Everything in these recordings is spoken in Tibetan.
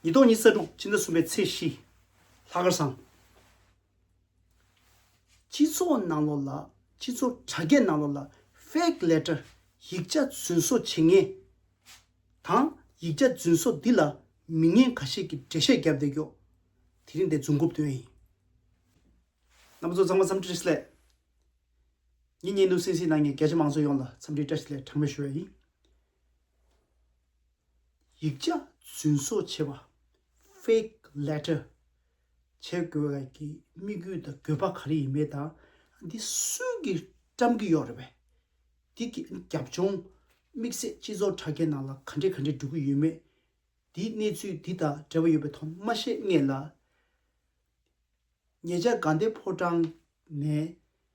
ཉི་ལྡོག་ཉི་ས་དྲུག་སྤྱི་ཟླ་གསུམ་པའི་ཚེས་བཞི། ལྷ་དཀར་བཟང། སྤྱི་ཚོགས་ནང་ལོགས་ལ་སྤྱི་ཚོགས་དྲ་རྒྱའི་ནང་ལོགས་ལ Fake Letter ཡིག་ཆ་རྫུན་བཟོ་བྱེད་ངེས། དང་ཡིག་ཆ་རྫུན་བཟོ་འདི་ལ་མི་ངན་ག་ཤེད་ཀྱི་འགྲེལ་བཤད་བརྒྱབ་བསྡད་རྒྱོ། དེ་རིང་འདི་རྫུན་རྐུབ་སྟོན་ཡིན། ང་མི་ཚོ་ཚང་མ་འཚམས་འདྲི་བཀྲ་ཤིས་ལད། ངེད་གཉིས་ནུབ་སིན་སིན་ནང་གི་རྒྱ་ཆེ་མང་ཚོ་ཡོངས་ལ་འཚམས་འདྲི་བཀྲ་ཤིས་ལད་གྲངས་མེད་ཞུ་བ་ཡིན། ཡིག་ཆ་རྫུན་བཟོ་བྱེད་པ། Fake Letter། བྱེད་དགོས་བ་ཀྱི་དམིགས་ཡུལ་དང་དགོས་པ་ག་རེ་ཡིན་མེད་དང་འདི་སུས་ཀྱིས་བཀྲམ་གྱི་ཡོད་རེད་བས། འདི་གི་རྒྱབ་ལྗོངས་དམིགས་བསལ་སྤྱི་ཚོགས་དྲ་རྒྱའི་ནང་ལ་ག་འདྲས་ག་འདྲས་འགྲོ་གི་ཡོད་མེད་འདིའི་གནས་ཚུལ་འདི་དང་འབྲེལ་བ་ཡོད་པའི་ཐོག་མ་ཤེས་ངེས་ལ། ཉེ་ཆར་དགའ་ལྡན་ཕོ་བྲང་ནས་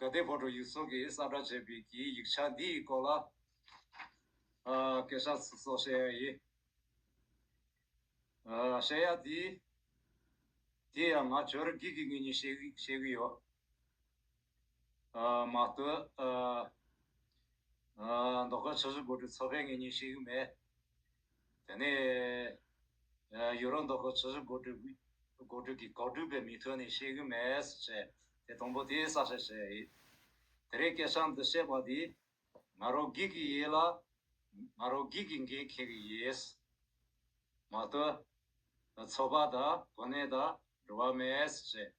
དགའ་ལྡན་བོད་དྲུག་ཡིག་ཚོགས་ཀྱིས་གསར་བསྒྲགས་བྱས་པའི་གྱི་ཡིག་ཆ་འདིའི་སྐོར་ལ། སྐད་ཆ་སོགས་བཤད་ཡག་ཡིན། བཤད་ཡག་དེ། དེ་ཡང་ང་ཇོ་རི་སྒེག་གི་ངེད་གཉིས་བཤད་གི་ཡོད། མ་བསྟོད། མདོ་ཁམས་ཆོས་བྱེད་བོད་དྲུག་ཚོགས་པའི་ངེད་གཉིས་བཤད་གི་མེད། དེ་ནས། ཡོད་རང་མདོག་གི་ཆུ་བཞི་སྒོ་དྲུག་གི་སྒོ་དྲུག་གི་གོག་དྲུག་པའི་མིག་ཐོན་ནས་ཤེས་གི་མེད་ཟེར་བྱས་དེ་དང་པོ་དེའི་བསགས་བཤད་བྱས། དེ་རེས་སྐད་ཆའམ་འདི་བཤད་པ་དེས། ང་རོ་སྒེག་གི་ཡས་ལ། ང་རོ་སྒེག་གི་འགན་འཁྱེར་གི་ཡས། མ་ལྟོས། ཚོགས་པ་དང་གོ་གནས་དང་འགྲོ་བ་མེད་ཟེར་བྱས།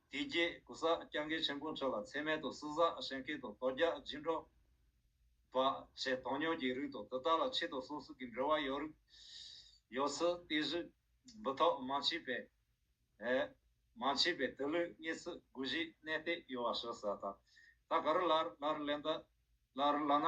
དེ་རྗེས་གུ་ས་སྐྱབས་མཁན་ཆེན་པོ་མཆོག་ལ་ཚད་མེད་དུ་བསུ་བསགས་བཞེས་མཁན་དུ་དོ་རྒྱ་སྦྱིན་སྤྲོ། བ་ཆེ་མཐོང་སྙོགས་ཀྱི་རིགས་དང་དེ་དག་ལ་ཆེད་དུ་སོ་སོ་གི་འབྲེལ་བ་ཡོད་རིགས། ཡོད་ཚུལ་བསྟན་གཞི། འབུ་ཐོག་མ་མཆིས་པས། མ་མཆིས་པས་དེ་ལུས་རྙེད་ཚུལ་དགུ་བཞིའི་གནས་ལྟས་ཡོད་བ་ཞུ་ས་དང། ད་ག་རུ་ལར་ལར་ལས་འདི་ལ་རུ་ལ་ན་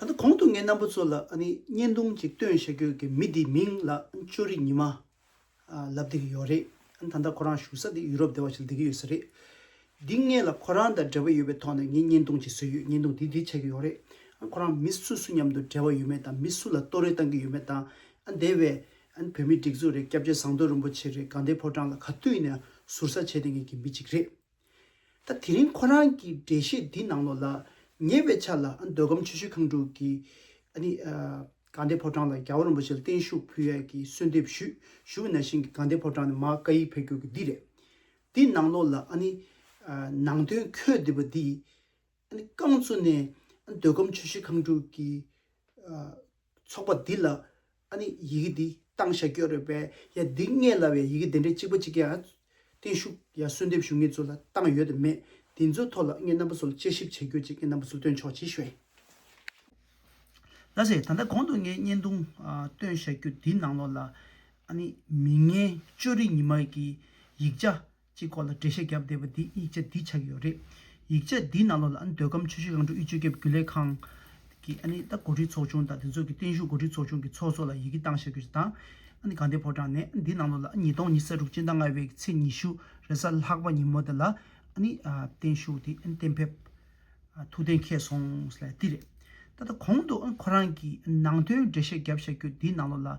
ད་ལྟ་གོང་དུ་ངས་རྣམ་པ་ཚོ་ལ་བརྙན་ཐུང་ཅིག་སྟོན་བཞག་རྒྱུ་གི་མི་དེའི་མིང་ལ་ཅོ་རི་ཉི་མ་ལབ་སྡེ་གི་ཡོག་རེད་ད་ལྟ་ཁོ་རང་བཞུགས་ས་དེ་ཡུ་རོབ་སྡེ་བ་ཞིག་ལ་སྡེ་གི་ཡོད་ས་རེད་འདི་ངེད་ལ་ཁོ་རང་དང་འབྲེལ་བ་ཡོད་པའི་ཐོག་ནས་ངས་བརྙན་ཐུང་ཅིག་བཟོས་ཡོད་བརྙན་ཐུང་དེ་འདི་ཆགས་ཀྱི་ཡོག་རེད་ཁོ་རང་མི་སུ་སུ་མཉམ་དུ་འབྲེལ་བ་ཡོད་མེད་དང་མི་སུ་ལ་ལྟོ་རེ་བཏང་གི་ཡོད་མེད་དང་སྡེ་བའི་བོད་མི་སྒྲིག་འཛུགས་རེད་སྐྱབས་རྗེ་ཟངས་མདོག་རིན་པོ་ཆེ་རེད་གངས་ཏའི་ཕོ་བྲང་ལ་ག་དུས་ནས་ཟུར་ཟ་བྱས་ཏེ་ངེད་ཀྱི་མི་ཅིག་རེད། ད་དེ་རིང་ཁོ་རང་གི་འགྲེལ་བཤད་འདི་ནང་ལོགས་ལ་ཉེ་བའི་ཆ་ལ་འདོད་སྒམ་ཆོས་ཞུ་ཁང་དྲུག་གི་དགའ་ལྡན་ཕོ་བྲང་ལ་རྒྱ་བོད་རིན་པོ་ཆེ་ལ་བརྟན་བཞུགས་ཕུལ་ཡས་ཀྱི་གསོལ་འདེབས་ཞུས་བཞུགས་ན་ཤིང་གི་དགའ་ལྡན་ཕོ་བྲང་ནས་མ་བཀའ་ཡིག་ཕེབས་གྱུར་གི་འདི་རེད། འདི་ནང་ལོགས་ལ་ནང་དོན་ཁྱོད་འདི་པ་འདི་རྐང་བཙུགས་ནས་འདོད་སྒམ་ཆོས་ཞུ་ཁང་དྲུག་གི་ཚོགས་པ་འདི་ལ་ཨ་ནི་ཡི་གེ་འདི་གཏང་ཞྭ་སྐྱོ་རོས་པས་ཡ་འདི་ལྔས་ལ་བའི་ཡི་གེ་དེ་འདྲའི་གཅིག་པ་གཅིག་གི་ཨ། བརྟན་བཞུགས་ཡ་གསོལ་འདེབས་ཞུ་ངེད་ཚོ་ལ་གཏང་ཡོད་དེ་མེད་དེ་ཚོའི་ཐོག་ལ་ངེད་རྣམ་པ་ཚོ་ལ་དཔྱད་ཞིབ་བྱེད་རྒྱུ་གཅིག་ངེད་རྣམ་པ་ཚོ་སྟོན་ཆོག་ཅེས་ཞུས། ལ་ཟེར་ད་ལྟ་གོང་དུ་ངའི་བརྙན་ཐུང་སྟོན་ཞྭ་སྐྱོ་འདི་ནང་ལོགས་ལ་ཨ་ནི་མི་ངན་ཅོ་རི་ཉི་མ་གི་ཡིག་ཆ་ཅེས་སྐོར་ལ་འགྲེལ་བཤད་བརྒྱབ་བསྡད་པ་འདིས་ཡིག་ཆ་འདི་ཆགས་ཡོད་རེད། ཡིག་ཆ་འདིའི་ནང་ལོགས་ལ་ཨ་ནི་འདོད་ཁམས་ཆུ་བཞི་ལང་གྲོ་དབུས་ཆུ་ཁྱབ་རྒྱུད་ལས་ཁང། གིས་ཨ་ནི་ད་འགོ་ཁྲིད་ཚོགས་ཆུང་དང་དེ་ཚོ་གི་བརྟན་བཞུགས་འགོ་ཁྲིད་ཚོགས་ཆུང་གི་ཚོགས་གཙོ་ལ་ཡི་གེ་བཏང་བཞག་རྒྱུ་ཞིག་དང། ཨ་ནི་གངས་ཏེ་ཕོ་བྲང་ནས་ཨ་ནི་འདིའི་ནང་ལོགས་ལ་ཨ་ཉིས་སྟོང་ཉིས་ས་དྲུག་སྤྱི་ཟླ་ལྔ་བའི་ཚེས་ཉི་ཤུ་རེས་གཟའ་ལྷག་པ་ཉིན་མོ་དེ་ལ་ཨ་ནི་བརྟན་བཞུགས་དེ་ཨ་ནི་གཏན་ཕེབས་ཐུགས་གཏན་འཁེལ་སོང་ཟེར་ལ་འདི་རེད། ད་ལྟ་གོང་དུ་ཨ་ནི་ཁོ་རང་གིས་ནང་དོན་འགྲེལ་བཤད་བརྒྱབ་བཞག་རྒྱུ་འདིའི་ནང་ལོགས་ལ།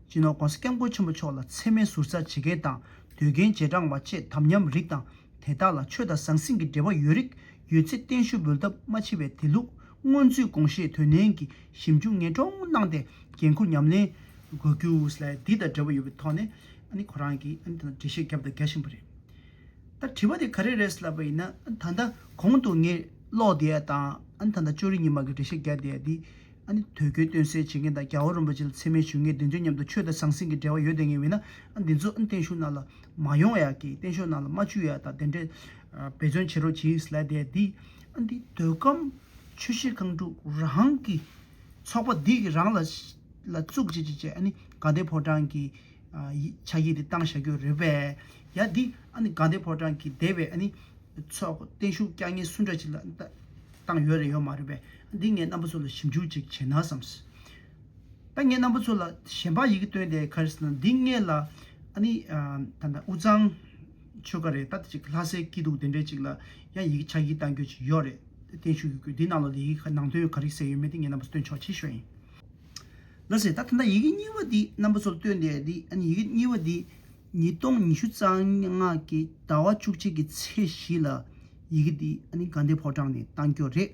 སྤྱི་ནོར ྋགོང་ས ྋསྐྱབས་མགོན་ཆེན་པོ་མཆོག་ལ་འཚེ་མེད་ཟུར་ཟ་བྱེད་མཁན་དང་འདོད་རྒན་རྗེས་འབྲང་བ་བཅས་དམ་ཉམས་རིགས་དང་དེ་དག་ལ་ཆོས་དང་ཟང་ཟིང་གི་འབྲེལ་བ་ཡོད་རིགས་ཡོད་ཚེ་བརྟན་བཞུགས་འབུལ་ཐབས་མ་མཆིས་པའི་དེ་ལུགས་སྔོན་ཚུད་དགོངས་བཞེས་དོན་ནན་གྱིས་ཞིབ་འཇུག་ངེས་འཕྲོག་གནང་སྟེ་འགན་འཁུར་ཉམས་ལེན་དགོས་རྒྱུ་ལས་འདི་དང་འབྲེལ་བ་ཡོད་པའི་ཐོག་ནས་ཨཱ་ནི་ཁོ་རང་གིས་ཨཱ་ནི་ད་ནི་འགྲེལ་བཤད་བརྒྱབ་དང་རྒྱག་བཞིན་པ་རེད། ད་དྲི་བ་དེ་ག་རེ་རེད་ཟེར་ལབ་པ་ཡིན་ན་ད་ལྟ་གོང་དུ་ངས་ཀློག་བསྡད་ཡ་དང་ཨཱ་ནི་ད་ལྟ་ཅོ་རི་ཉི་མ་གིས་འགྲེལ་བཤད་བརྒྱབ་བསྡད་ཡ་འདི་ཨ་ནི་དོལ་རྒྱལ་སྟོན་སྲས་བྱེད་མཁན་དང་རྒྱ་བོད་རིན་པོ་ཆེ་ལ་འཚེ་མེད་ཞུ་མཁན་དེ་ཚོའི་མཉམ་དུ་ཆོས་དང་ཟང་ཟིང་གི་འབྲེལ་བ་ཡོད་དེ་ངེས་བས་ན་ཨ་འདི་ཚོ་ཨ་ནི་བརྟན་བཞུགས་ནང་ལ་མ་ཡོང་བ་ཡག་གི་བརྟན་བཞུགས་ནང་ལ་མ་བཅུག་ཡག་དང་དེ་འདྲས་འབད་བརྩོན་བྱེད་རོགས་གྱིས་ལད་ཟླའི་འདི་ཨ་འདི་དོལ་ཁམས་ཆོས་བཤད་ཁང་དྲུག་རང་གི་ཚོགས་པ་འདི་གི་རང་ལ་ལ་བཙུགས་བྱེད་བྱེད་བྱེད་ཨ་ནི་དགའ་ལྡན་ཕོ་བྲང་གི་ཕྱག་བཞེས་དེ་བཏང་བཞག་རྒྱུ་རེད་བས་ཡ་འདི་ཨ་ནི་དགའ་ལྡན་ཕོ་བྲང་གི་སྡེ་བའི་ཨ་ནི་ཚོགས་བརྟན་བཞུགས་བསྐྱར་ཉེས་སུ་འདྲ་བྱེད་ལ་བཏང་ཡོད་རེད་ཡོད་མ་རེད་བས། འདི་ངས་རྣམ་པ་ཚོ་ལ་ཞིབ་འཇུག་ཅིག་བྱས་ན་བསམས། ད་ངས་རྣམ་པ་ཚོ་ལ་གཞན་པར་ཡི་གེ་སྟོན་ཏེ་ཁར་ཟིན་ན་འདི་ངས་ལ་ཨ་ནི་ད་ལྟ་དབུས་གཙང་ཆོལ་ཁ་རེད་ད་ལྟ་ཅིག་ལྷ་སའི་སྐྱིད་སྡུག་དེ་འདྲས་ཅིག་ལ་ཡང་ཡི་གེ་ཕྱག་བགྱིས་གཏང་རྒྱུ་ཅིག་ཡོད་རེད་བརྟན་བཞུགས་ཡོད་དགོས་འདི་ནང་ལ་ལས་ཡི་གེ་ནང་དོན་ག་རེ་གསལ་ཡོད་མེད་འདི་ངས་རྣམ་པ་ཚོ་སྟོན་ཆོག་ཆེ་ཤོས་ཡིན། ལ་ཟེར་ད་ད་ལྟ་ཡི་གེ་གཉིས་པ་འདི་རྣམ་པ་ཚོ་ལ་སྟོན་ཏེ་འདི་ཨ་ནི་ཡི་གེ་གཉིས་པ་འདི་ཉིས་སྟོང་ཉི་ཤུ་རྩ་ལྔ་གི་ཟླ་བ་བཅུ་གཅིག་གི་ཚེས་བཞི་ལ་ཡི་གེ་འདི་ཨ་ནི་དགའ་ལྡན་ཕོ་བྲང་ནས་གཏང་རྒྱུ་རེད།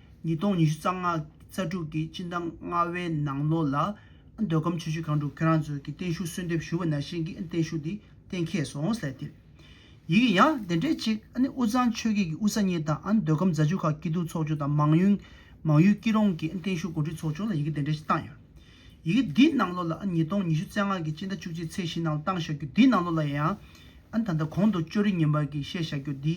ཉིས་སྟོང་ཉི་ཤུ་རྩ་ལྔ་རྩ་དྲུག་གི་སྤྱི་ཟླ་ལྔ་བའི་ནང་ལོ་ལ། འདོད་ཁམས་ཆོས་ཆུ་གང་དྲུག་ཁྱོད་རང་ཚོས་ཀྱི་བརྟན་བཞུགས་གསོལ་འདེབས་ཞུ་བ་ན་བཞིན་གྱི་བརྟན་བཞུགས་འདི་གཏན་འཁེལ་སོང་ཟེར་ཏེ། ཡིག་གི་ཡང་དེ་འདྲའི་ཅིག་དབུས་གཙང་ཆོས་བརྒྱད་ཀྱི་དབུས་ས་གཉིས་དང་འདོད་ཁམས་རྫ་ཆུ་ཁ་སྐྱིད་དུ་ཚོགས་ཆུང་དང་མང་ཡུལ་མང་ཡུལ་སྐྱིད་རོང་གི་བརྟན་བཞུགས་གོ་སྒྲིག་ཚོགས་ཆུང་ལ་ཡི་གེ་དེ་འདྲའི་ཅིག་བཏང་ཡོད། ཡི་གེ་འདི་ནང་ལོ་ལ་ཉིས་སྟོང་ཉི་ཤུ་རྩ་ལྔ་གི་སྤྱི་ཟླ་བཅུ་གཅིག་ཚེས་བཞི་ནང་བཏང་བཞག་རྒྱུ་འདི་ནང་ལོ་ལ་ཡང། ད་ལྟ་གོང་དུ་ཅོ་རི་ཉི་མར་གྱིས་བཤད་བཞག་རྒྱུ་འདི།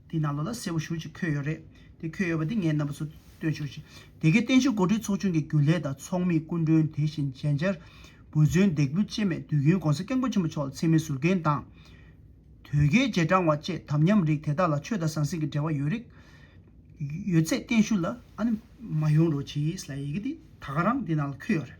དེ་ནང་ལོགས་ལ་གསལ་བོ་ཞུ་ཅིག་འཁོད་ཡོད་རེད་དེ་འཁོད་ཡོད་པ་དེ་ངས་རྣམ་པ་ཚོ་སྟོན་ཞོར་ཞིག་དེ་གའི་བརྟན་བཞུགས་འགོ་ཁྲིད་ཚོགས་ཆུང་གི་རྒྱུན་ལས་དང་ཚོགས་མི་སྐུ་མགྲོན་དེ་བཞིན་མཇལ་བཅར་བུ་མཚོན་འདེགས་འབུལ་ཆེད་མེད་དུས་རྒྱུན་གོང་ས་སྐྱབས་མགོན་ཆེན་པོ་མཆོག་ལ་འཚེ་མེད་ཟུར་འགན་དང། དོལ་རྒྱལ་རྗེས་འབྲང་བ་བཅས་དམ་ཉམས་རིགས་དེ་དག་ལ་ཆོས་དང་ཟང་ཟིང་གི་འབྲེལ་བ་ཡོད་རིགས་ཡོད་ཚད་བརྟན་བཞུགས་ལ། ཨ་ནི། མ་ཡོང་རོགས་གྱིས་ལ་ཡི་གེ་དེ་ད་ག་རང་དེ་ནང་ལ་འཁོད་ཡོད་རེད།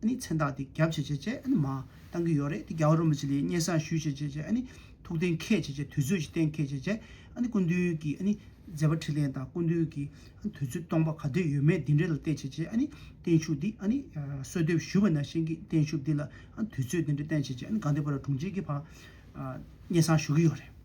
ཨ་ནི་མཚན་རྟགས་འདི་རྒྱབ་བྱེད་བྱེད་བྱེད་ཨ་ནི་མ། བཏང་གི་ཡོད་རེད་དེ་རྒྱ་བོད་རོ་མི་བྱེད་ལས་སྙན་བཟང་ཞུས་བྱེད་བྱེད་བྱེད་ཨ་ནི། ཐུགས་གཏན་འཁེལ་བྱེད་བྱེད་དུས་ཚོད་ཀྱི་གཏན་འཁེལ་བྱེད་བྱེད་ཨ་ནི་སྐུ་མདུན་གྱི་ཨ་ནི། མཛད་པ་ཁྲི་ལེན་དང་སྐུ་མདུན་གྱི་ཨ་ནི་དུས་ཚོད་སྟོང་པ་ག་དུས་ཡོད་མེད་འདི་འདྲའི་ལ་བལྟས་བྱེད་བྱེད་ཨ་ནི། བརྟན་བཞུགས་འདི་ཨ་ནི། གསོལ་འདེབས་ཞུས་པ་ནང་བཞིན་གྱི་བརྟན་བཞུགས་འདི་ལ་ཨ་ནི་དུས་ཚོད་འདི་འདྲའི་བསྟན་བྱེད་བྱེད་ཨ་ནི་དགའ་འདུས་པ་ར་དྲུང་ཆེ་གི་བར། སྙན་བཟང་ཞུ་གི་ཡོད་རེད།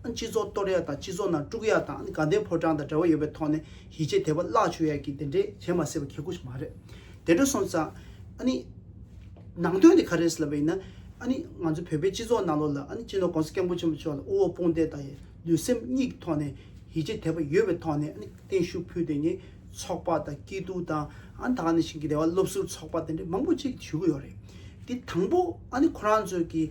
སྤྱི་ཚོགས་གཏོར་ཡག་དང་སྤྱི་ཚོགས་ནང་དཀྲུག་ཡག་དང་དགའ་ལྡན་ཕོ་བྲང་དང་འབྲེལ་བ་ཡོད་པའི་ཐོག་ནས་ཡིད་ཆེས་དེ་བ་བརླག་བྱུང་ཡག་གི་དེ་འདྲས་བྱེད་མ་སྲིད་པ་གལ་སྐུ་ཞིག་མ་རེད། དེ་འདྲ་སོང་ཙང། ནང་དོན་དེ་ག་རེ་ཟེར་ལབ་པ་ཡིན་ན། ང་ཚོ་བོད་པའི་སྤྱི་ཚོགས་ནང་ལོགས་ལ་སྤྱི་ནོར ྋགོང་ས ྋསྐྱབས་མགོན་ཆེན་པོ་མཆོག་ལ་དབུ་འོག་དཔུང་འདེགས་དང་ལུས་སེམས་གཉིས་ཀྱི་ཐོག་ནས་ཡིད་ཆེས་དེ་བ་ཡོད་པའི་ཐོག་ནས་བརྟན་བཞུགས་ཕུལ་དེ་ཉིད་ཚོགས་པ་དང་སྐྱིད་སྡུག་དང་ད་ནས་ཞིང་གི་བདེ་བ་སློབ་ཟུར་ཚོགས་པ་དེ་འདྲས་མང་པོ་ཅིག་ཞུ་གི་ཡོད་རེད། དེ་དང་པོ་ཁོ་རང་ཚོས་ཀྱི།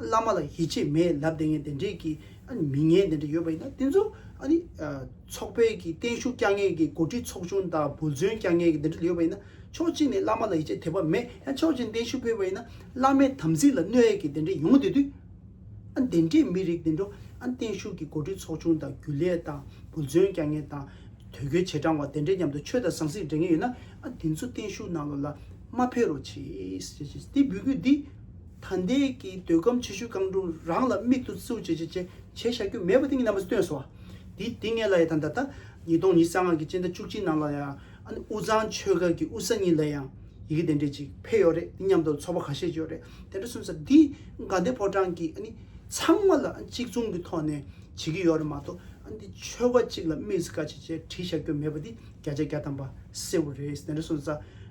བླ་མ་ལ་ཡིད་ཆེས་མེད་ལབ་དེ་ངན་དེ་འདྲས་ཀྱི་མི་ངན་དེ་འདྲས་ཡོད་པ་ཡིན་ན་དེ་ཚོ་ཚོགས་པའི་ཀྱི་བརྟན་བཞུགས་བསྐྱངས་མཁན་ཀྱི་འགོ་ཁྲིད་ཚོགས་ཆུང་དང་བུ་རྫུན་བསྐྱངས་མཁན་ཀྱི་དེ་འདྲས་ཡོད་པ་ཡིན་ན་ཕྱོགས་གཅིག་ནས་བླ་མ་ལ་ཡིད་ཆེས་དེ་བ་མེད་ཡང་ཕྱོགས་གཅིག་ནས་བརྟན་བཞུགས་ཕེབས་པ་ཡིན་ན་བླ་མའི་དམ་ཚིག་ལ་གནོད་ཡས་ཀྱི་དེ་འདྲས་ཡོང་དེ་དུས་དེ་འདྲས་མི་རིགས་དེ་འདྲོ་བརྟན་བཞུགས་ཀྱི་འགོ་ཁྲིད་ཚོགས་ཆུང་དང་རྒྱུ་ལས་དང་བུ་རྫུན་བསྐྱངས་མཁན་དང་དོལ་རྒྱུལ་བྱེས་དྲང་བ་དེ་འདྲས་མཉམ་དུ་ཆོས་དང་ཟང་ཟིང་འབྲེལ་མཁན་ཡོད་ན་དེ་ཚོ་བརྟན་བཞུགས་ནང་ལོ་ལ་མ་ཕེབས་རོགས་གྱིས་ཞེས་ཀྱི་འདི་འབུལ་སྐུལ་འདི། ད་ལྟའི་ཀྱི་འདོད་ཁམས་ཆེ་ཤོས་རྐང་དྲུག་རང་ལ་མིག་ཏུ་བཙིར་བྱེད་བྱེད་བྱེད་བྱ་རྒྱུ་མེད་པ་དེ་ཉིད་རྣམ་པར་སྟོན་སོ། དེ་དེ་ངེས་ལ་ཡང་ད་ལྟ་ཉིས་སྟོང་ཉིས་སྟོང་སྔགས་ཀྱི་སྤྱན་ཟླ་བཅུ་གཅིག་ནང་ལ་ཡང་ཨ་ནི་དབུས་གཙང་ཆོལ་ཁ་གི་དབུས་ས་གཉིས་ལ་ཡང་ཡི་གེ་དེ་འདྲས་ཅིག་འཕེལ་ཡོད་རེད་དེ་མཉམ་དུ་ཚོགས་པ་ག་ཤེད་ཡོད་རེད་དེ་འདྲ་གསུངས་ས་འདི་དགའ་ལྡན་ཕོ་བྲང་གི་ཨ་ནི་ཚང་མ་ལ་གཅིག་མཚུངས་ཀྱི་ཐོག་ནས་བྱེད་ཀྱི་ཡོད་རེད་མ་གཏོགས་ཨ་འདི་ཆོལ་ཁ་གཅིག་ལ་དམིགས་བསལ་བཀའ་བྱེད་བཅས་བྲིས་བཞག་རྒྱུ་མེད་པ་འདི་བརྒྱ་ཆ་བརྒྱ་ཐམ་པ་གསལ་བོ་རེད་དེ་འདྲ་གསུངས་ས།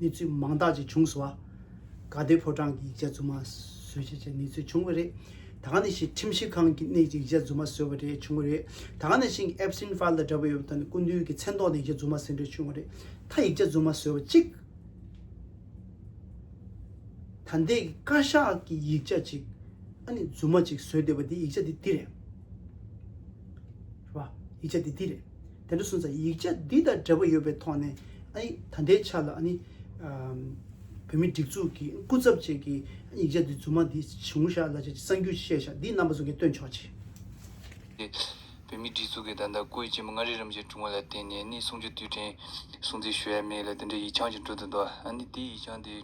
གནས་ཚུལ་མང་དག་ཅིག་བྱུང་སོང་བ། དགའ་ལྡན་ཕོ་བྲང་གི་ཡིག་ཆ་རྫུན་མ་བཟོས་ཆེད་ཅིག་གནས་ཚུལ་བྱུང་བ་རེད། ད་ག་ནས་ཤིག་ཁྲིམས་ཞིབ་ཁང་གི་ནས་ཅིག་ཡིག་ཆ་རྫུན་མ་བཟོས་བ་རེད་བྱུང་བ་རེད། ད་ག་ནས་ཤིག Epstein File དང་འདྲ་བའི་ཡོད་པ་དང་སྐུ་མདུན་གྱི་མཚན་ཐོག་ནས་ཡིག་ཆ་རྫུན་མ་ཟེར་འདྲ་བྱུང་བ་རེད། ད་ཡིག་ཆ་རྫུན་མ་བཟོས་བ་གཅིག། ད་འདས་ཀྱི་བཀའ་ཤག་གི་ཡིག་ཆ་གཅིག། ཨ་ནི་རྫུན་མ་ཅིག་བཟོས་བསྡད་པ་དེ་ཡིག་ཆ་དེ་འདི་རེད། ཡིག་ཆ་དེ་འདི་རེད། དེ་འདྲ་སོང་ཙང་ཡིག་ཆ་འདི་དང་འབྲེལ་བ་ཡོད་པའི་ཐོག་ནས་ད་ལྟའི་ཆ་ལ་བོད་མིའི་སྒྲིག་འཛུགས་ཀྱི་སྐུ་ཚབ་བཅས་ཀྱི་ཡིག་ཆ་འདི་རྫུན་མ་འདི་བྱུང་བཞག་ལ་གསར་འགྱུར་བཤད་བཞག་འདི་རྣམ་པ་ཟུང་གིས་སྟོན་ཆོག་ཅི། ཏེ། བོད་མིའི་སྒྲིག་འཛུགས་ཀྱི་ད་ལྟ་སྐུ་ཡི་སྐྱེས་མ་ལྔ་རེའི་རིམ་བཞིན་བྱུང་བ་ལ་བརྟེན་ནས་ནི་གསུང་ཆོས་དུས་དྲན་སྲུང་བརྩི་ཞུ་ཡ་མེད་ལ་དེ་འདྲའི་ཡིག་ཆའང་ཅི་འགྲོ་དུ་འདུག་ཨ་ནི་དེའི་ཡིག་ཆའང་དེ།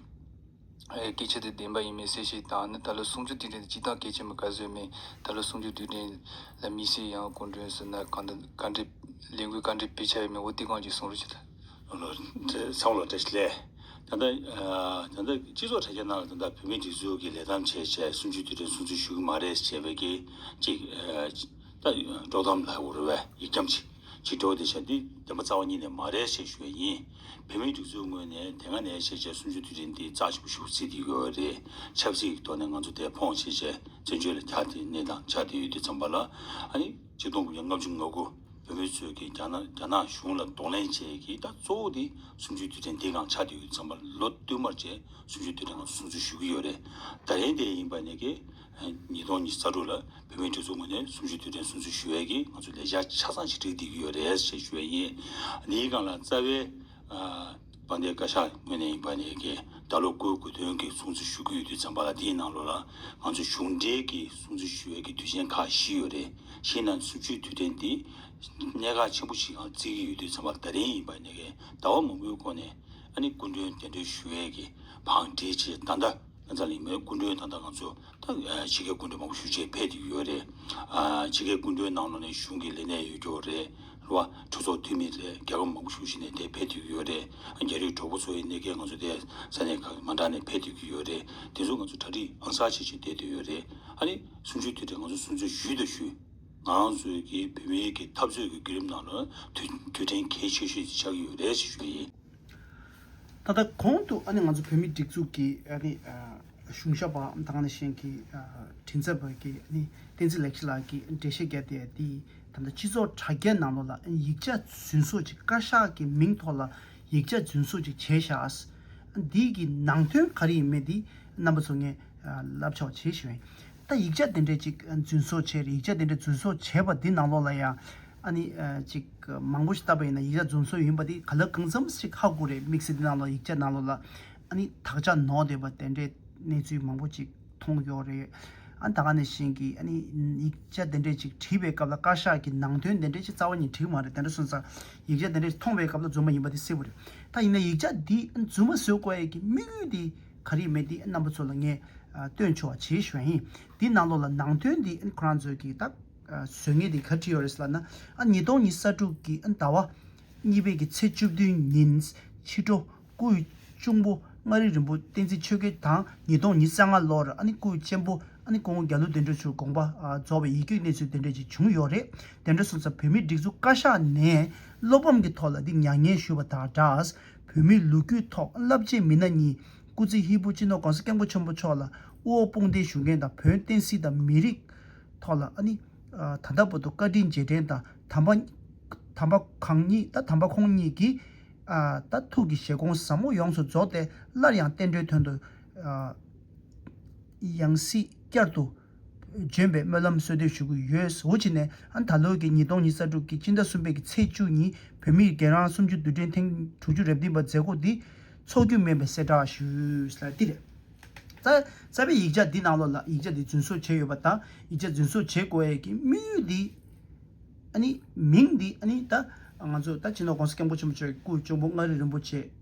སྐད་ཆ་དེ་བདེན་པ་ཡིན་མིན་གསལ་བཤད་དང་ནི་ད་ལོའི་གསུང་ཆོས་དུས་དྲན་དེ་སྤྱི་བཏང་གལ་ཆེན་པོ་ག་བཟོས་མིན་ད་ལོའི་གསུང་ཆོས་དུས་དྲན་ལ་མི་སེར་ཡང་སྐུ་མགྲོན་ཟེར་ན་གང་འདུག་བཀའ་འདྲི་ལས་འགུལ་བཀའ་འདྲི་སྤེལ་འཆར་ཡོད་མེད་འོ་དེ་གང་ཅིག་གསུང་རོགས་བྱེད། ཚང་ལོ་བཀྲ་ཤིས་ལས། ད་ལྟ། ད་ལྟ་སྤྱི་ཚོགས་དྲ་རྒྱ་ནང་ལ་ད་ལྟ་བོད་མིའི་སྒྲིག་འཛུགས་ཀྱི་ལས་དམ་བྱས་བྱས་གསུང་ཆོས་དུས་དྲན་གསུང་ཆོས་ཞུ་གི་མ་རེད་ཅེས་པའི་གི་ཅིག། ད། དཀྲོག་གཏམ་ལ་འུར་བའི་ཡིག་འཁྱམ་ཅིག། ཅིག་གྲོགས་བདེ་ཆེན་འདི་བདེན་པ་རྩ་བ་ཉིད་ནས་མ་རེད་ཞེས་ཞུ་བ་ཡིན། བོད་མིའི་སྒྲིག་འཛུགས་ངོས་ནས་དེ་སྔ་ནས་བྱས་རྗེས་སུམ་ཅུ་དུས་དྲན་འདི་རྩ་ཆེན་པོ་ཞུ་རྩིས་ཀྱི་ཡོད་རེད། ཆབ་སྲིད་ཀྱི་ཐོག་ནས་ང་ཚོ་དེ་ཕོངས་བྱས་རྗེས་བཙན་བྱོལ་ལ་གྱ་སྟེ་གནས་དང་ཆགས་བསྡད་ཡོད་དུས་ཚང་པ་ལ། ཨ་ནི་གཅིག་སྟོང་དགུ་བརྒྱ་ལྔ་བཅུ་ང་དགུ་བོད་མི་ཚོས་ཀྱི་རྒྱ་ནག་རྒྱ་ནག་གཞུང་ལ་གདོང་ལེན་བྱས་ཀྱི་ད་གཙོ་བོ་དེ་སུམ་ཅུའི་དུས་དྲན་འདི་གང་ཆགས་བསྡད་ཡོད་དུས་ཚང་པ་ལོ་བསྟུད་མར་རྗེས་སུམ་ཅུའི་དུས་དྲན་གང་སྲུང་རྩིས་ཞུ་གི་ཡོད་རེད། ད་ལན་དེ་ཡིན་པ་ནས་ཀྱི་ཉིས་སྟོང་ཉིས་རྩ་དྲུག་ལ་བོད་མིའི་སྒྲིག་འཛུགས་ངོས་ནས་གསུམ་བཅུ་དུས་དྲན་གསུམ་བཅུ་ཞུ་བའི་གིས་ང་ཚོས་ལས་འཆར་ཆ་ཚང་ཞིག་བསྒྲིགས་བསྡད་ཀྱི་ཡོད་རེད་ཞེས་ཞུ་བས་ཡིན། འདིའི་སྒང་ལ་རྩ་བའི། དཔལ་ལྡན་བཀའ་ཤག་ངོས་ནས་ཡིན་པ་ནི་གིས་ད་ལོ་སྐུའི་དགོས་དོན་གྱི་སྲུང་བརྩི་ཞུ་གི་ཡོད་དུས་བརྩམས་པ་ལ་དེའི་ནང་ལོ་ལ་ང་ཚོས་གཞུང་འབྲེལ་གྱི་སྲུང་བརྩི་ཞུ་བའི་གིས་དུས་ཆེན་ཁག་བཞི་ཡོད་རེད་གཞི་ན་གསུམ་བཅུའི་དུས་དྲན་འདི་གནད་འགག་ཆེན་པོ་ཞིག་ཨང་བརྩི་གི་ཡོད་དུས་བརྩམས་པ་ད་རིང་ཡིན་པ་ནི་གིས་ཟླ་བ་མང་པོའི་གོང་ནས་ཨ་ནི་སྐུ་མགྲོན་གདན་འདྲེན་ཞུ་བའི་གིས་བང་བསྒྲིགས་རྗེས་ད་ལྟ། ཨ་ཙག་ལིང་མའི་སྐུ་མགྲོན་དང་ད་ང་ཚོ་ད་ཕྱི་ཁའི་སྐུ་མགྲོན་མང་པོ་ཞུ་ཆེད་ཕེབས་ཀྱི་ཡོད་རེད། ཕྱི་ཁའི་སྐུ་མགྲོན་ནང་ལོགས་ནས་གཞུང་གི་ལས་གནས་ཡོད་རྒྱུ་རེད་ལ། གྲོས་ཚོགས་འཐུས་མི་རེད་རྒྱལ་ཁབ་མང་པོ་ཞུ་བཞིན་ནས་དེ་ཕེབས་ཐུབ་ཀྱི་ཡོད་རེད། རྒྱ་རིགས་གྲོགས་པོ་ཚོའི་གནད་ཁེལ་ང་ཚོ་དེ་ས་གནས་ཁག་མ་འདྲ་ནས་ཕེབས་ཐུབ་ཀྱི་ཡོད་རེད་དེ་ཚོ་ང་ཚོ་གྲ་སྒྲིག་ཨང་གསར་བྱེད་ཆེད་བསྡད་འདོད་ཡོད་རེད་ཨ་རེ། གསུང་ཆོས་དུས་དེར་ང་ཚོ་གསུང་ཆོས་ཞུས་དང་ཞུ། ང་རང་ཚོའི་གི་བོད་མིའི་གི་འཐབ་རྩོད་ཀྱི་བརྒྱུད་རིམ་ནང་ལོ་དུས་དུས་དྲན་གལ་ཆེ་ཤོས་ཤིག་ཆགས་ཀྱི་ཡོད་རེད་ཞེས་ཞུ་ཡི། ད་ལྟ་གོང་དུ་ཨ་ནི་ང་ཚོ་བོད་མིའི་སྒྲིག་འཛུགས་ཀྱི་ཨ་ནི་གཞུང་ཞབས་པ་དང་ཨ་ནི་གཞན་གྱི་མགྲིན་ཚབ་པ་ཀྱི་ཨ་ནི་བསྟན་འཛིན་ལེགས་བཤད་ལགས་ཀྱིས་འགྲེལ་བཤད་བརྒྱབ་སྟེ་དེ་ད་ལྟ་སྤྱི་ཚོགས་དྲ་རྒྱའི་ནང་ལོགས་ལ་ཨ་ནི་ཡིག་ཆ་རྫུན་བཟོ་ཅིག་བཀའ་ཤག་གི་མིང་ཐོག་ལ་ཡིག་ཆ་རྫུན་བཟོ་ཅིག་བྱས་ཤགས། འདི་གི་ནང་དོན་ག་རེ་ཡིན་མེད་འདི་རྣམ་པ་ཚོ་ངས་ལབ་ཆོག་བྱས་ཤིག། ད་ཡིག་ཆ་དེ་འདྲས་ཅིག་རྫུན་བཟོ་བྱས་རེད་ཡིག་ཆ་དེ་འདྲས་རྫུན་བཟོ་བྱས་པ་དེ་ནང་ལོགས་ལ་ཡང་ཨ་ནི་ཅིག་མང་པོ་ཞིག་བཏབ་པ་ཡིན་ན་ཡིག་ཆ་རྫུན་བཟོ་ཡིན་པ་དེ་ག་ལ་གང་འཚམས་ཤིག་ཧ་གོ་རེད་དམིགས་བསལ་དེ་ནང་ལོགས་ཡིག་ཆ་ནང་ལོགས་ལ་ཨ་ནི་དག་ཆ་ནོར་སྡོད་པ་དེ་འདྲས་གནས་ཚུལ་མང་པོ་ཅིག་མཐོང་ཡོད་རེད་ཨ་ད་ག་ནས་བཞིན་གྱི་ཨ་ནི་ཡིག་ཆ་དེ་འདྲས་ཅིག་བྲིས་པའི་སྐབས་ལ་བཀའ་ཤག་གི་ནང་དོན་དེ་འདྲས་ཅིག་རྩ་བ་ཉིད་བྲིས་མ་རེད་དེ་འདྲ་སོང་ཙང་ཡིག་ཆ་དེ་འདྲས་ཅིག་མཐོང་བའི་སྐབས་ལ་རྫུན་མ་ཡིན་པ་དེ་གསལ་བོ་རེད་ད་ཡིན་ན་ཡིག་ཆ་འདི་རྫུན་མ་བཟོས་དགོས་ཡས་ཀྱི་དམིགས་ཡུལ་དེ། ག་རེ་མེད་དེ་རྣམ་པ་ཚོ་ལ་ངས་སྟོན་ཆོག་བྱེད་ཞོན་ཨེ་འདི་གནང་ལོ་ལ་ནང་དོན་འདི་ཁོ་རང་ཚོས་ཀྱི་ད་བཟོད་ངས་དེ་ག་བྲིས་ཡོད་རེད་ལ་ན་ཉིས་སྟོང་ཉི་ས་དྲུག་གི་ཟླ་བ་གཉིས་པའི་གི་ཚེས་བཅུ་བདུན་ཉིན་ཕྱི་དྲོ་སྐུའི་གཅུང་པོ་མངའ་རིས་རིན་པོ་བསྟན་འཛིན་ཆོས་དགེ་དང་ཉིས་སྟོང་ཉི་ས་ལྔ་ལོར་སྐུའི་གཅེན་པོ་ཀོང་བོ་རྒྱ་ལུ་བདེ་འགྲོ་ཆུ་དགོངས་པ་རྫོགས་པའི་ཡིད་སྐྱོའི་གནས་ཚུལ་དེ་འདྲས་ཅིག་བྱུང་ཡོད་རེད་དེ་འདྲ་སོང་ཙང་བོད་མིའི་སྒྲིག་འཛུགས་བཀའ་ཤག་ནས་བློ་ཕམ་གྱི་ཐོག་ལ་འདི་མྱ་ངན་ཞུས་པ་དང་སྦྲགས་བོད་མིའི་ལོ་རྒྱུས་ཐོག་རླབས་ཆེན་མི་སྣ་གཉིས་སྐུ་ཚེ་ཧི་པོ་ཅི་ནོ་གང་ས་སྐྱབས་མགོན་ཆེན་པོ་མཆོག་ལ་དབུ་འོག་དཔུང་སྡེའི་ཞུ་མཁན་དང་བོན་བསྟན་སྲིད་དང་མི་རིགས་ཐོག་ལ་ཨ་ནི། ད་ལྟ་བོ་དོ་བཀའ་དྲིན་རྗེས་དྲན་དང་དམ་པ། དམ་པ་གང་ཉིད་ད་དམ་པ་ཁོང་ཉིད་ཀྱི། ད་ཐུགས་ཀྱི་བཞེད་དགོངས་ཟབ་མོ་ཡོངས་སུ་རྫོགས་ཏེ་སླར་ཡང་བསྟན་འགྲོའི་དོན་དུ། ཡང་སྲིད་བསྐྱར་དུ། ལྗོན་པའི་སྨོན་ལམ་གསོལ་བསྟོད་ཞུ་གི་ཡོད་འོ་ཅི་ནས་ཨང་ད་ལོའི་གི་ཉིས་སྟོང་ཉིས་ས་དྲུག་གི་སྤྱི་ཟླ་གསུམ་པའི་གི་ཚེས་བཅུ་ཉིན་བོད་མིའི་རྒན་རང་སུམ་ཅུ་དུས་དྲན་ཐེངས་དྲུག་ཅུ་རེབ་བདུན་པ་མཛད་སྒོ་འདི་འཚོགས་རྒྱུ་མིན་པའི་གསལ་བསྒྲགས་ཞུས། ལ་ཏི་རེད། རྩ་བའི་ཡིག་ཆ་འདི་ནང་ལོགས་ལ་ཡིག་ཆ་འདི་རྫུན་བཟོ་བྱས་ཡོད་པ་དང་ཡིག་ཆ་རྫུན་བཟོ་བྱེད་དགོས་ཡས་ཀྱི་དམིགས་ཡུལ་འདི་ཨ་ནི་མིང་འདི་ཨ་ནི་ད་ང་ཚོ་ད་སྤྱི་ནོར ྋགོང་ས ྋསྐྱབས་མགོན་ཆེན་པོ་ཆོས་ཀྱི་སྐུ་གཅུང་པོ་མངའ་རིས་རིན་པོ་ཆེ་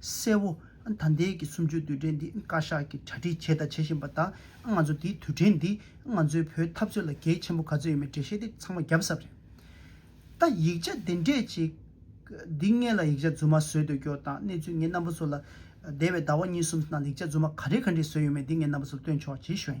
གསལ་བོ། ད་ལྟའི་གི་གསུམ་བཅུའི་དུས་དྲན་འདི་བཀའ་ཤག་གིས་གྲ་སྒྲིག་བྱས་དང་བྱེད་བཞིན་པ་དང་ང་ཚོ་འདིའི་དུས་དྲན་འདིས་ང་ཚོའི་བོད་འཐབ་རྩོད་ལ་གལ་ཆེན་པོ་ག་ཚོད་ཡོད་མེད་འགྲེལ་བཤད་དེ་ཚང་མ་བརྒྱབ་ས་རེད། ད་ཡིག་ཆ་འདི་འདྲས་ཅིག་འདི་ངས་ལ་ཡིག་ཆ་རྫུན་མ་བཟོས་འདོད་སྐྱོར་དང་གནས་ཚུལ་ངས་རྣམ་པ་ཚོ་ལ་འདས་པའི་ཟླ་བ་གཉིས་གསུམ་ནང་ལ་ཡིག་ཆ་རྫུན་མ་ག་རེ་ག་འདྲས་བཟོས་ཡོད་མེད་འདི་ངས་རྣམ་པ་ཚོ་ལ་སྟོན་ཆོག་ཇི་ཞོན།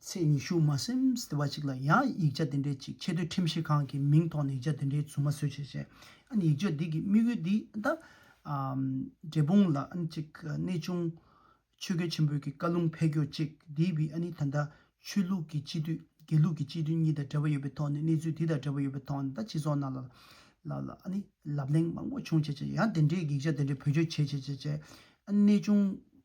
ཚེས་ཉི་ཤུ་མ་སེམས་ཟླ་བ་གཅིག་ལ་ཡང་ཡིག་ཆ་དེ་འདྲའི་ཅིག་ཆེས་མཐོའི་ཁྲིམས་ཞིབ་ཁང་གི་མིང་ཐོག་ནས་ཡིག་ཆ་དེ་འདྲའི་རྫུན་མ་བཟོས་བྱས་བྱས། ཨཱ་ཡིག་ཆ་འདི་གི་དམིགས་ཡུལ་འདི་ད། འབྲས་སྤུངས་ལ་ཨཱ་ནི་ཅིག་གནས་ཆུང། ཆོས་རྒྱལ་ཆེན་པོའི་གི་བཀའ་ལུང་འཕེལ་འགྱུར་ཅིག་འདི་བི་ཨཱ་ནི་ད་ལྟ་ཆོས་ལུགས་ཀྱི་སྤྱི་འཐུས་དགེ་ལུགས་ཀྱི་སྤྱི་འཐུས་གཉིས་དང་འབྲེལ་བ་ཡོད་པའི་ཐོག་ནས་གནས་ཚུལ་འདི་དང་འབྲེལ་བ་ཡོད་པའི་ཐོག་ནས་ད་སྤྱི་ཚོགས་ནང་ལ་ལ་ལ་ཨཱ་ནི་ལབ་གླེང་མང་པོ་བྱུང་བྱས་བྱས་ཡང་དེ་འདྲའི་ཡིག་ཆ་དེ་འདྲའི་བེད་སྤྱོད་བྱས་བྱས་བྱས་བྱས་ཨཱ་ནི་གནས་ཆུང།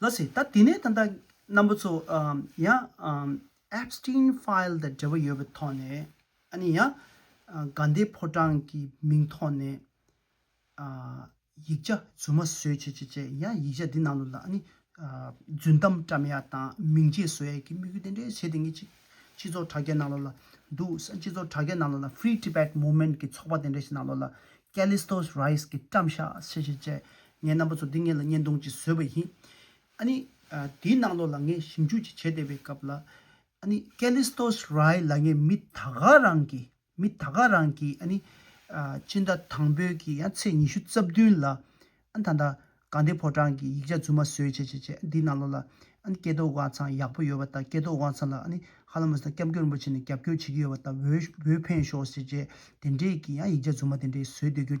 ལ་ཟེར། ད་དེ་ནས་ད་ལྟ་རྣམ་པ་ཚོ་ཡང Epstein File དང་འབྲེལ་བ་ཡོད་པའི་ཐོག་ནས་ཨ་ནི་ཡང་དགའ་ཟླའི་ཕོ་བྲང་གི་མིང་ཐོག་ནས་ཡིག་ཆ་རྫུན་མ་བཟོས་བྱས་བྱས་བྱས་ཡང་ཡིག་ཆ་དེ་ནང་དུ་ལ་ཨ་ནི་རྫུན་གཏམ་བཀྲམ་ཡག་དང་མིང་རྗེས་བཟོ་ཡག་གི་དམིགས་ཡུལ་དེ་འདྲའི་བྱས་དེ་ངས་ཅི་སྤྱི་ཚོགས་དྲ་རྒྱ་ནང་ལོགས་ལ་འདུག་ས་སྤྱི་ཚོགས་དྲ་རྒྱ་ནང་ལོགས་ལ Free Tibet Movement གི་ཚོགས་པ་དེ་འདྲ་ཞིག་ནང་ལོགས་ལ Callistos Rise གི་བཀྲམ་ཤག་བྱས་བྱས་བྱས་ངའི་རྣམ་པ་ཚོ་འདི་ངེད་ལ་བརྙན་ཐུང་ཅིག་བཟོས་པ་ཡིན། ཨ་ནི། དེའི་ནང་ལོགས་ལ་ངས་ཞིབ་འཇུག་ཅིག་བྱས་བསྡད་པའི་སྐབས་ལ། ཨ་ནི། Kallistos Rai ལ་ངས་མི་ད་ག་རང་གིས་མི་ད་ག་རང་གིས་ཨ་ནི། སྤྱི་ཟླ་དང་པོའི་གི་ཡང་ཚེས་ཉི་ཤུ་རྩ་བདུན་ལ། ཨ་ནི་ད་ལྟ་གངས་ཏི་ཕོ་བྲང་གི་ཡིག་ཆ་རྫུན་མ་བཟོས་བྱས་བྱས་བྱས་འདིའི་ནང་ལོགས་ལ། ཨ་ནི་སྐལ་རྡོར་དབང་ཚང་ཡག་པོ་ཡོད་པ་དང་སྐལ་རྡོར་དབང་ཚང་ལ་ཨ་ནི་ཧ་ལམ་མ་ཟད་སྐྱབས་མགོན་རིན་པོ་ཆེ་ནས་རྒྱབ་སྐྱོར་བྱེད་ཀྱི་ཡོད་པ་དང་འོས་འོས་འཕེན་ཤོག་ཟེར་བྱས་དེ་འདྲའི་གི་ཡང་ཡིག་ཆ་རྫུན་མ་དེ་འདྲའི་བཟོས་སྡོད་རྒྱུ།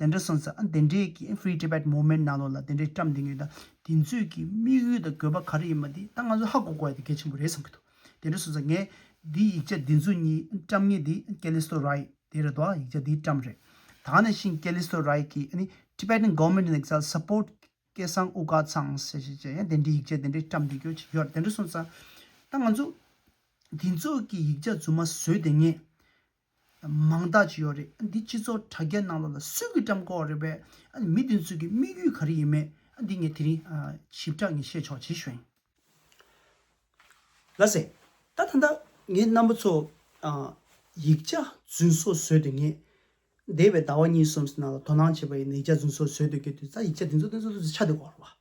དེ་འདྲ་སོང་ཙང་དེ་འདྲས་ཀྱི Free Tibet Movement ནང་ལོགས་ལ་དེ་འདྲས་བཀྲམས་འདི་ངེས་དང་དེ་ཚོས་ཀྱི་དམིགས་ཡུལ་དང་དགོས་པ་ག་རེ་ཡིན་པ་འདི་ད་ང་ཚོས་ཧ་གོ་དགོས་ཡ་དེ་གལ་ཆེན་པོ་རེད་བསམ་གྱི་འདུག་དེ་འདྲས་སོང་ཙང་ངས་འདི་ཡིག་ཆ་འདི་ཚོ་གཉིས་བཀྲམས་ངེས་འདི Callisto Rye དེ་རེད་དོ་ཡིག་ཆ་འདི་བཀྲམས་རེད་ད་ནས་བཞིན Callisto Rye ཀྱི Tibetan Government in Exile Support སྐད་གསང་དབུ་དཀར་ཚང་ཞེས་ཞེས་བྱས་ཡ་དེ་འདྲས་ཡིག་ཆ་དེ་འདྲས་བཀྲམས་འདི་ཀྱོ་ཅིག་ཡོད་རེད་དེ་འདྲས་སོང་ཙང་ད་ང་ཚོས་དེ་ཚོས་ཀྱི་ཡིག་ཆ་རྫུན་མ་བཟོས་དེ་ངེས་མང་དག་ཅིག་ཡོད་རེད་འདི་སྤྱི་ཚོགས་དྲ་རྒྱ་ནང་ལོག་ལ་སུས་ཀྱིས་བཀྲམ་ཁོག་རེད་པས་མི་དེ་ཚོས་ཀྱི་དམིགས་ཡུལ་ག་རེ་ཡིན་མེད་འདི་ངས་དེ་རིང་ཞིབ་ཕྲ་ངས་བཤད་ཆོག་ཇི་བཞིན། ལ་ཟེར། ད་ཐ་ན་ངའི་རྣམ་པ་ཚོ་ཡིག་ཆ་རྫུན་བཟོ་བཟོས་དུས་ངས་འདས་པའི་ཟླ་བ་གཉིས་གསུམ་ནང་ལ་དོ་སྣང་བྱས་པ་ཡིན་ན་ཡིག་ཆ་རྫུན་བཟོ་བཟོས་འདུག་གི་དུས་ད་ཡིག་ཆ་དེ་ཚོ་དེ་ཚོ་ཚོ་ཆ་དེ་གོ་རོགས།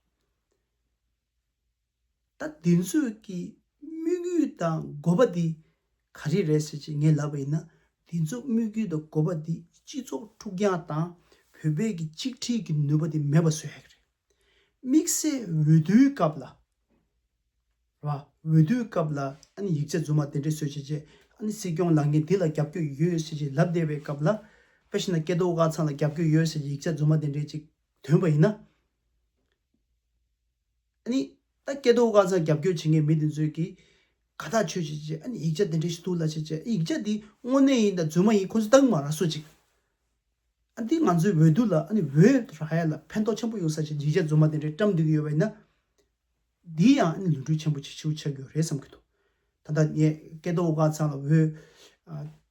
ད་འདི་ཚོས་ཀྱི་དམིགས་ཡུལ་དང་དགོས་པ་འདི་ག་རེ་རེད་ཟེར་ཅིག་ངས་ལབ་པ་ཡིན་ན་འདི་ཚོ་དམིགས་ཡུལ་དང་དགོས་པ་འདི་སྤྱི་ཚོགས་འཁྲུག་རྐྱང་དང་བོད་པའི་གི་གཅིག་སྒྲིལ་གི་ནུས་པ་འདི་མེད་པ་བཟོ་ཡག་རེད། དམིགས་བསལ་འོས་བསྡུའི་སྐབས་ལ་རེད་བ། འོས་བསྡུའི་སྐབས་ལ་ཨ་ནི་ཡིག་ཆ་རྫུན་མ་དེ་འདྲས་བཟོས་བྱས་རྗེས་ཨ་ནི་སྲིད་སྐྱོང་ལངས་མཁན་འདི་ལ་རྒྱབ་སྐྱོད་ཡོད་ཟེར་ཅིག་ལབ་བསྡད་པའི་སྐབས་ལ་པེ་ཤི་ན་སྐལ་རྡོར་སྐལ་བཟང་ལ་རྒྱབ་སྐྱོད་ཡོད་ཟེར་ཅིག་ཡིག་ཆ་རྫུན་མ་དེ་འདྲས་ཅིག་དོན་པ་ཡིན་ན། ནི། ད་སྐད་དོ་བཀའ་རྩ་རྒྱབ་སྐྱོར་བྱེད་མཁན་མི་དེ་ཚོས་ཀྱིས། ག་དག་ཆོས་བྱེད་ཅེས་ཡིག་ཆ་དེ་འདྲའི་ཞིག་བསྡུ་སླ་ཆེ་ཅེས་ཡིག་ཆ་དེ་དངོས་གནས་ཡིན་དང་རྫུན་མ་ཡིན་ཁོ་ཚོས་བརྟག་མ་ར་སོ་ཅིག། འདི་ང་ཚོའི་འོས་བསྡུ་ལ་འོས་ར་ཡ་ལ་ཕན་ཐོགས་ཆེན་པོ་ཡོང་ས་ཆེད་ཡིག་ཆ་རྫུན་མ་དེ་འདྲའི་བཀྲམ་སྡོད་ཀྱི་ཡོད་པ་ཡིན་ན། འདི་ཡང་ལུས་འཁྲུལ་ཆེན་པོ་ཆེ་ཆུང་ཆགས་རྒྱུ་རེད་བསམ་གྱི་འདུག་ད་ལྟ་ངས་སྐད་དོ་བཀའ་རྩ་ལ་འོས།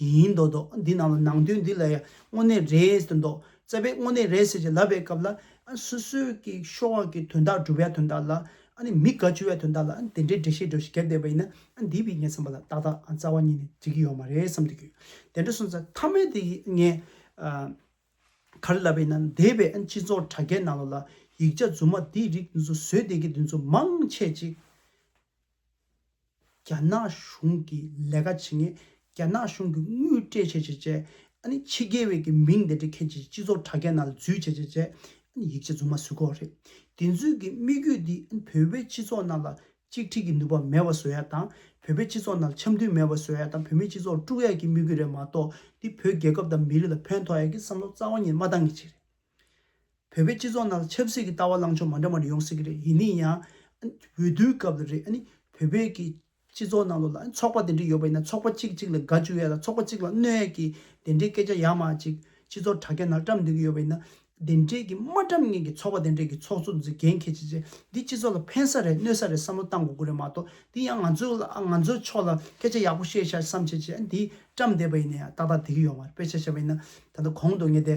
ཡིན་མདོག་མདོག་འདི་རྣམས་ལ་ནང་དོན་འདི་ལ་ཡང་དངོས་གནས་རེད་ཟེར་མདོག་རྩ་བའི་དངོས་གནས་རེད་ཟེར་ཅིག་ལབ་པའི་སྐབས་ལ། སོ་སོའི་ཀྱི་ཤོག་ཨ་ཀྱི་དོན་དག་སྒྲུབ་པའི་དོན་དག་ལ། མི་དགའ་བྱུ་བའི་དོན་དག་ལ་དེ་འདྲའི་འགྲེལ་བཤད་སྒྲོས་བཞིན་བརྒྱབ་བསྡད་པ་ཡིན་ན་འདི་བས་ངས་བསམ་པ་ལ་ཏག་ཏག་རྩ་བ་ཉིད་ནས་འགྲིག་གི་ཡོད་མ་རེད་བསམ་དུ་གྱུར། དེ་འདྲ་སོང་ཚ་མཐའ་མའི་དེ་ཡིས་ངས། ག་རེ་ལབ་པ་ཡིན་ན་འདས་པའི་སྤྱི་ཚོགས་དྲ་རྒྱའི་ནང་ལོགས་ལ་ཡིག་ཆ་རྫུན་མ་འདིའི་རིགས་འདི་ཚོ་བཟོས་བསྡད་ཀྱི་འདི་ཚོ་མང་ཆེ་ཅིག། རྒྱ་ནག་གཞུང་གི་ལས་ཀ་བྱེད་མཁན་རྒྱ་ནག་གཞུང་གི་དངུལ་སྤྲད་བྱས་བྱས་བྱས་ཨ་ནི་ཕྱི་རྒྱལ་བས་ཀྱི་མིང་འདི་འདྲ་ཁྱེད་ཀྱི་སྤྱི་ཚོགས་དྲ་རྒྱ་ནང་ལ་འཛུལ་བྱས་བྱས་བྱས་ཨ་ནི་ཡིག་ཆ་རྫུན་མ་བཟོས་ཁོག་རེད་དེ་འཛུལ་གྱི་དམིགས་ཡུལ་འདི་ཨ་ནི་བོད་པའི་སྤྱི་ཚོགས་ནང་ལ་གཅིག་ཁྲིག་གི་ནུས་པ་མེད་པ་བཟོ་ཡ་དང་བོད་པའི་སྤྱི་ཚོགས་ནང་ལ་འཆམ་མཐུན་མེད་པ་བཟོ་ཡ་དང་བོད་མིའི་སྤྱི་ཚོགས་དཀྲུག་ཡ་གྱི་དམིགས་ཡུལ་རེད་མ་གཏོགས་འདི་བོད་རྒྱལ་ཁབ་དང་མི་རིགས་ལ་ཕན་ཐོག་ཡ་གྱི་བསམ་བློ་རྩ་བ་ཉིད་མ་བཏང་གི་ཆེད་རེད། བོད་པའི་སྤྱི་ཚོགས་ནང་ལ་ཆབ་སྲིད་ཀྱི་ལྟ་བ་ལངས་ཕྱོགས་མ་འདྲ་མ་འདྲ་ཡོང་སྲིད་ཀྱི་རེད་ཡིན་ནི་ཡང། འོས་བསྡུའི་སྐབས་ལ་རེད། བོད་པའི་ཀྱི་སྤྱི་ཚོགས་ནང་ལོ་ལ་ཚོགས་པ་དེ་འདྲ་ཡོད་པ་ཡིན་ན་ཚོགས་པ་གཅིག་གཅིག་ལ་དགའ་བཅུ་ཡས་ལ་ཚོགས་པ་གཅིག་ལ་གནོད་ཡས་ཀྱི་དེ་འདྲའི་སྐད་ཆ་ཡ་མ་གཅིག་སྤྱི་ཚོགས་དྲ་རྒྱ་ནང་བཀྲམ་འདོད་ཀྱི་ཡོད་པ་ཡིན་ན། དེ་འདྲའི་ཀྱི་མ་བཀྲམ་མཁན་གྱི་ཚོགས་པ་དེ་འདྲའི་ཀྱི་ཚོགས་གཙོ་འཛི་འགན་ཁྱེད་ཀྱིས་ཀྱི་འདི་སྤྱི་ཚོགས་ལ་ཕན་ས་རེད་གནོད་ས་རེད་བསམ་བློ་བཏང་དགོས་དགོས་རེད་མ་གཏོགས་འདི་ཡང་ང་ཚོའི་ལ་ང་ཚོའི་ཕྱོགས་ལ་སྐད་ཆ་ཡག་པོ་བཤད་ཤག་བསམ་ཁྱེད་ཀྱིས་འདི་བཀྲམ་བསྡད་པ་ཡིན་ན་ཡང་ཏག་ཏག་དེ་གི་ཡོང་བ་རེད་དཔེ་ཆ་བཤད་པ་ཡིན་ན་ད་ལྟ་གོང་དུ་ངས་དེ།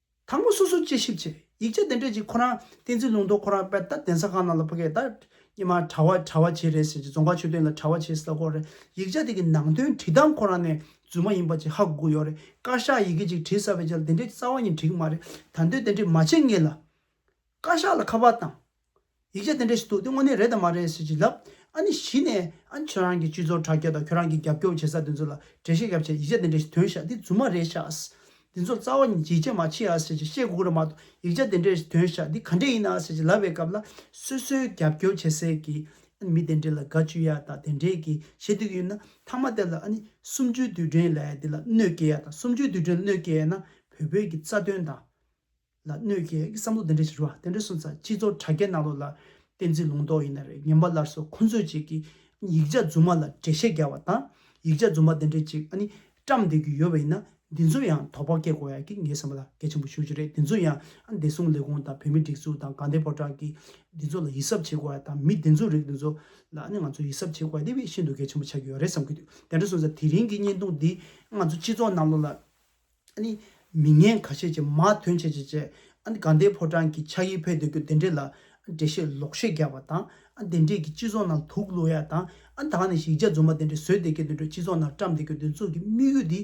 དང་པོ་སོ་སོར་དཔྱད་ཞིབ་བྱས། ཡིག་ཆ་དེ་འཕྲོད་ཅིག་ཁོ་རང་བསྟན་འཛིན་ལུང་རྟོགས་ཁོ་རང་དཔལ་རྟ་གདན་ས་ཁང་ནང་ལ་ཕ་གས་ད་ཉི་མ་གྲྭ་བ་གྲྭ་བ་བྱེད་རེད་ཟེར་གྱི་རྫོང་ཁག་ཆོས་སྟོན་ལ་གྲྭ་བ་བྱེད་ཟེར་ད་ཁོ་རང་ཡིག་ཆ་དེ་གི་ནང་དོན་བྲིས་སྟངས་ཁོ་རང་ནས་རྫུན་མ་ཡིན་པ་ཅིག་ཧ་གོ་གི་ཡོད་རེད་བཀའ་ཤག་ཡི་གེ་ཅིག་བྲིས་ས་བས་ཅལ་དེ་འདྲའི་རྩ་བ་ཉིད་བྲིས་གི་མ་རེད་ད་འདོད་དེ་འདྲས་མ་བྱེད་ངེས་ལ། བཀའ་ཤག་ལ་ཁ་པར་དང། ཡིག་ཆ་དེ་འདྲ་ཞིག་འདུག་དེ་དངོས་གནས་རེད་དམ་མ་རེད་ཟེར་གྱིས་ལབ། ཨ་ནི་གཞི་ནས་ཨ་ཁྱོད་རང་གི་སྤྱི་ཚོགས་དྲ་རྒྱ་དང་ཁྱོད་རང་གི་རྒྱབ་སྐྱོར་བྱེད་ས་དེ་ཚོ་ལ་འགྲེལ་བཤད་བརྒྱབ་ཆེད་ཡིག་ཆ་དེ་འདྲ་ཞིག་འདོན་བཞག་འདི་རྫུན་མ་རེད་ཤགས། འདི་ཚོ་རྩ་བ་ནས་ཡིག་ཆ་མ་མཆིས་ཨ་ཟེར་གྱིས་བཤད་དགོས་ཀྱི་རེད་མ་གཏོགས་ཡིག་ཆ་དེ་འདྲ་ཞིག་འདོན་བཞག་འདི་ག་འདྲས་ཡིན་ཨ་ཟེར་གྱིས་ལབ་པའི་སྐབས་ལ་སོ་སོའི་རྒྱབ་སྐྱོར་བྱེད་སའི་གི་ཨ་ནི་མི་དེ་འདྲས་ལ་དགའ་བཅུ་ཡ་དང་དེ་འདྲས་གི་བཤད་སྡོད་ཀྱི་ཡོད་ན་ཐང་མ་དེ་ལ་ཨ་ནི་གསུམ་བཅུའི་དུས་དྲན་ལ་ཡ་དེ་ལ་གནོད་སྐྱེལ་ཡ་དང་གསུམ་བཅུའི་དུས་དྲན་ལ་གནོད་སྐྱེལ་ཡ་ན་བོད་བོད་ཀྱི་རྩ་དོན་དང། ལ་གནོད་ཀྱི་བསམ་བློ་དེ་འདྲས་ཞིག་རུ་བ་དེ་འདྲས་སོང་ཙང་སྤྱི་ཚོགས་དྲ་རྒྱའི་ནང་ལོགས་ལ་བསྟན་འཛིན་ལུང་རྟོགས་ཡིན་ན་རེད་ངན་པ་སླར་གསོ་ཁོ་ཚོས་ཅིག་གིས་ཡིག་ཆ་རྫུན་མ་ལ་འགྲེལ་བཤད་རྒྱག་བ་དང་ཡིག་ཆ་རྫུན་མ་དེ་འདྲས་ཅིག་ཨ་ནི་བཀྲམས་འདེད་རྒྱུ་ཡོད་པ་ཡིན་ན་འདི་ཚོ་ཡང་དོགས་པ་སྐྱེ་དགོས་ཡ་གི་ངའི་བསམ་པ་ལ་གལ་ཆེན་པོ་ཞུ་རྒྱུ་རེད་འདི་ཚོ་ཡང་ཨ་བདེ་སྲུང་ལས་ཁུངས་དང་བོད་མི་སྒྲིག་འཛུགས་དང་དགའ་ལྡན་ཕོ་བྲང་གིས་འདི་ཚོ་ལ་ཡིད་གཟབ་བྱེད་དགོས་ཡ་དང་མི་བདེན་རྫུན་རིགས་འདི་ཚོ་ལ་ཨ་ནི་ང་ཚོ་ཡིད་གཟབ་བྱེད་དགོས་ཡ་དེ་བས་ཤིན་ཏུ་གལ་ཆེན་པོ་ཆགས་ཀྱི་ཡོད་རེད་བསམ་གྱི་འདུག་དེ་འདྲས་སོང་ཙང་དེ་རིང་གི་བརྙན་ཐུང་འདིས་ང་ཚོ་སྤྱི་ཚོགས་ནང་ལོགས་ལ། ཨ་ནི། མི་ངན་ག་ཤེད་ཅིག་མ་དོན་བྱེད་ཅིག་ཅེས་ཨ་ནི་དགའ་ཟླའི་ཕོ་བྲང་གི་ཕྱག་གཡས་འཕེལ་འདོད་ཀྱི་དེ་འདྲས་ལ་འགྲེལ་བཤད་ལོག་བཤད་རྒྱག་པ་དང་ཨ་དེ་འདྲས་ཀྱི་སྤྱི་ཚོགས་ནང་དུག་བླུག་ཡ་དང་ཨ་དྭགས་ནས་ཞིག་ཇག་རྫུན་མ་དེ་འདྲས་བཟོས་བསྡད་མཁན་དེ་འདྲས་སྤྱི་ཚོགས་ནང་བཀྲམ་བསྡད་ཀྱི་དེ་ཚོ་གི་དམིགས་ཡུལ་དེ་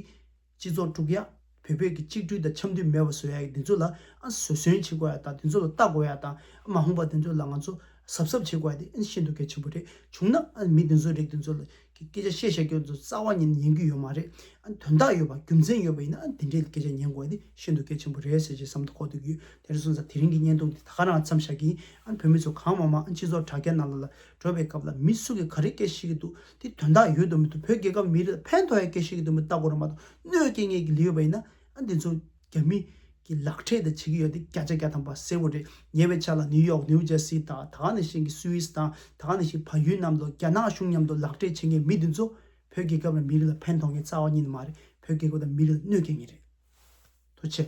སྤྱི་ཚོགས་དཀྲུག་ཡ་བོད་བོད་ཀྱི་གཅིག་བསྒྲིལ་དང་འཆམ་མཐུན་མེད་པ་བཟོ་ཡ་ཡི་དེ་ཚོ་ལ་ཨ་བཟོད་བསྲོན་བྱེད་དགོས་ཡ་དང་དེ་ཚོ་ལ་ལྟ་དགོས་ཡ་དང་ཨ་མ་ཧོང་པ་དེ་ཚོ་ལ་ང་ཚོ་གཟབ་གཟབ་བྱེད་དགོས་ཡ་དེ་ཨ་ནི་ཤིན་ཏུ་གལ་ཆེན་པོ་རེད་བྱུང་ན་ཨ་ནི་མི་དེ་ཚོ་རིགས་དེ་ཚོ་ལ་གི་སྐད་ཆ་བཤད་བཤད་སྐྱོན་དུ་རྩ་བ་ཉིད་ནས་ཉན་རྒྱུ་ཡོད་མ་རེད་ཨ། དོན་དག་ཡོད་པ་རྒྱུ་མཚན་ཡོད་པ་ཡིན་ན་ཨ་དེ་འདྲའི་སྐད་ཆ་ཉན་དགོས་པ་དེ་ཤིན་ཏུ་གལ་ཆེན་པོ་རེད་ཟེར་ཞེས་བསམ་དུ་ཁོག་ཏུ་རྒྱུ་དེ་རེད་སོང་ཙང་དེ་རིང་གི་བརྙན་ཐུང་འདི་ད་ག་རང་འཚམས་བཞག་གིན་ཨ་བོད་མི་ཚོ་གང་མང་མང་ཨ་སྤྱི་ཚོགས་དྲ་རྒྱ་ནང་ལ་ལ་འགྲོ་བའི་སྐབས་ལ་མི་སུ་གིས་ག་རེ་སྐད་བཤད་གི་འདུག་དེ་དོན་དག་ཡོད་དུ་མི་འདུག་བོད་རྒྱལ་ཁབ་མི་རིགས་ལ་ཕན་ཐོགས་ཡའི་སྐད་བཤད་གི་འདུག་མི་ལྟ་གོ་ར་མ་གཏོགས་གནོད་སྐྱེལ་ངེས་ཀྱི་ལི་ཡོད་པ་ཡིན་ན་ཨ་འདི་ཚོ། རྒྱ་མི་གི་ལག་འཕྲད་དང་བྱེད་ཀྱི་ཡོད་དེ་བརྒྱ་ཆ་བརྒྱ་དང་པ་གསལ་བོ་རེད་ཉེ་བའི་ཆ་ལ་ནིའུ་ཡོག་ནིའུ་ཇར་སི་དང་ད་ནས་བཞིན་གྱི་སུའི་ཨིས་དང་ད་ནས་བཞིན་བལ་ཡུལ་རྣམས་དང་རྒྱ་ནག་གཞུང་མཉམ་དུ་ལག་འཕྲད་བྱེད་མཁན་མི་དེ་ཚོ་བོད་རྒྱལ་ཁབ་ལ་མི་རིགས་ལ་ཕན་ཐོག་མཁན་རྩ་བ་ཉིད་མ་རེད་བོད་རྒྱལ་ཁབ་དང་མི་རིགས་ལ་གནོད་སྐྱེལ་མཁན་རེད་དོ་ཆེ།